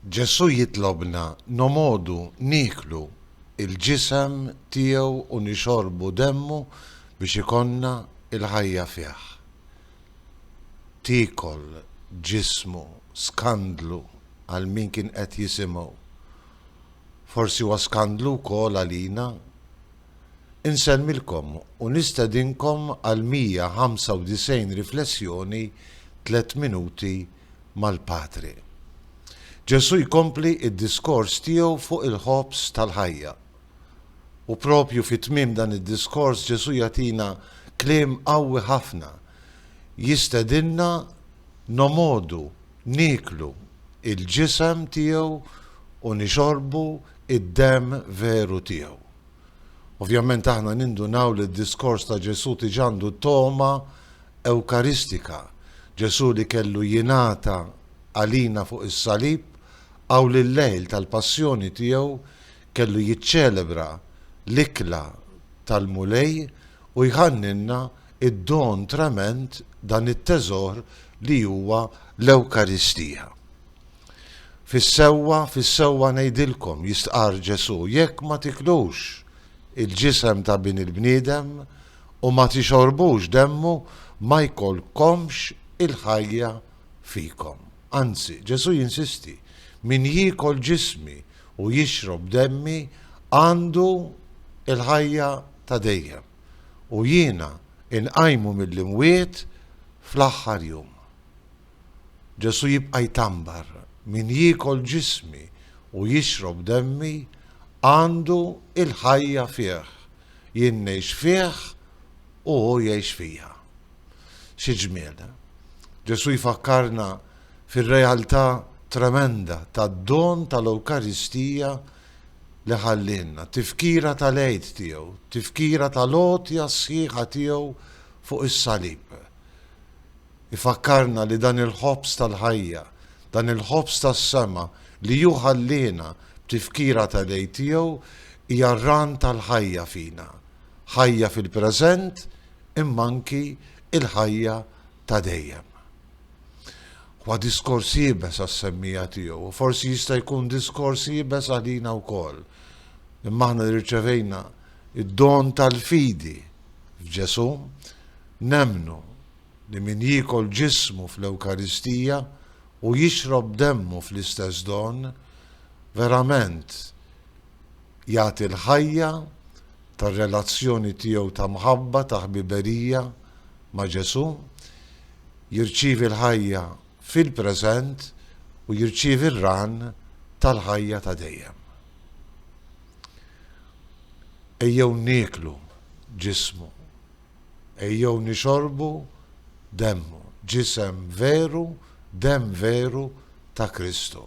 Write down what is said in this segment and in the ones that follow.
Ġesù jitlobna nomodu nieklu l-ġisem tiegħu u nixorbu demmu biex ikollna l-ħajja fih. Tiekol ġismu, skandlu għal min kien qed jisimgħu. Forsi huwa skandlu wkoll għalina. Insellmilkom u nistedinkom għal 195 riflessjoni Tliet Minuti mal-Patri. Ġesù jkompli d-diskors tiegħu fuq il-ħobż tal-ħajja. U proprju fi tmiem dan id-diskors Ġesù jagħtina kliem qawwi ħafna, jistedinna nomodu Nieklu l-ġisem tiegħu u nixorbu d-demm veru tiegħu. Ovvjament aħna nindunaw li d-diskors ta' Ġesù tiġ għandu togħma ewkaristika, Ġesù li kellu jingħata għalina fuq is-salib, hawn li l-lejl tal-passjoni tiegħu kellu jiċċelebra l-ikla tal-Mulej u jħannilna id-don trement, dan it-teżor li huwa l-Ewkaristija. Fis-sewwa, fis-sewwa ngħidilkom, jistqarr Ġesù, jekk ma tiklux il-ġisem ta' Bin il-bniedem u ma tixorbux demmu, ma jkollkomx il-ħajja fikom. Anzi, Ġesù jinsisti, min jiekol ġismi u jixrob demmi għandu l-ħajja ta' dejjem. u jiena inqajmu mill-imwiet fl-aħħar jum. Ġesù jibqa' jtambar, min jiekol ġismi u jixrob demmi għandu l-ħajja fih, jien ngħix fih u hu jgħix fija. Xi ġmiel! Ġesù jfakkarna fir-realtà tremenda tad-don tal-Ewkaristija li ħallielna, tifkira tal-Għid tiegħu, tifkira tal-għotja sħiħa tiegħu fuq is-salib. Ifakkarna li dan il-ħobż tal-ħajja, dan il-ħobż tas-sema li hu ħalliena b'tifkira tal-Għid tiegħu hija r-ran tal-ħajja fina, ħajja fil-preżent imma anki l-ħajja ta' dejjem. Huwa diskors iebes għas-semmija tiegħu u forsi jista' jkun diskors iebes għalina wkoll. Imma aħna li rċevejna id-don tal-fidi f'Ġesù, nemmnu li min jiekol ġismu fl-Ewkaristija u jixrob demmu fl-istess don, verament jagħti l-ħajja tar-relazzjoni tiegħu ta' mħabba, ta' ħbiberija ma' Ġesù, jirċievi l-ħajja fil-preżent u jirċievi r-ran tal-ħajja ta' dejjem. Ejjew nieklu ġismu Ejjew nixorbu demmu, ġisem veru, demm veru ta' Kristu,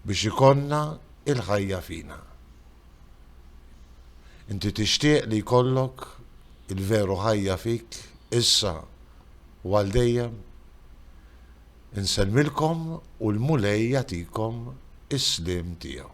biex ikollna il-ħajja fina. Inti tixtieq li jkollok il-veru ħajja fik issa u għal dejjem? Insellmilkom u l-Mulej jagħtikom is-sliem tiegħu.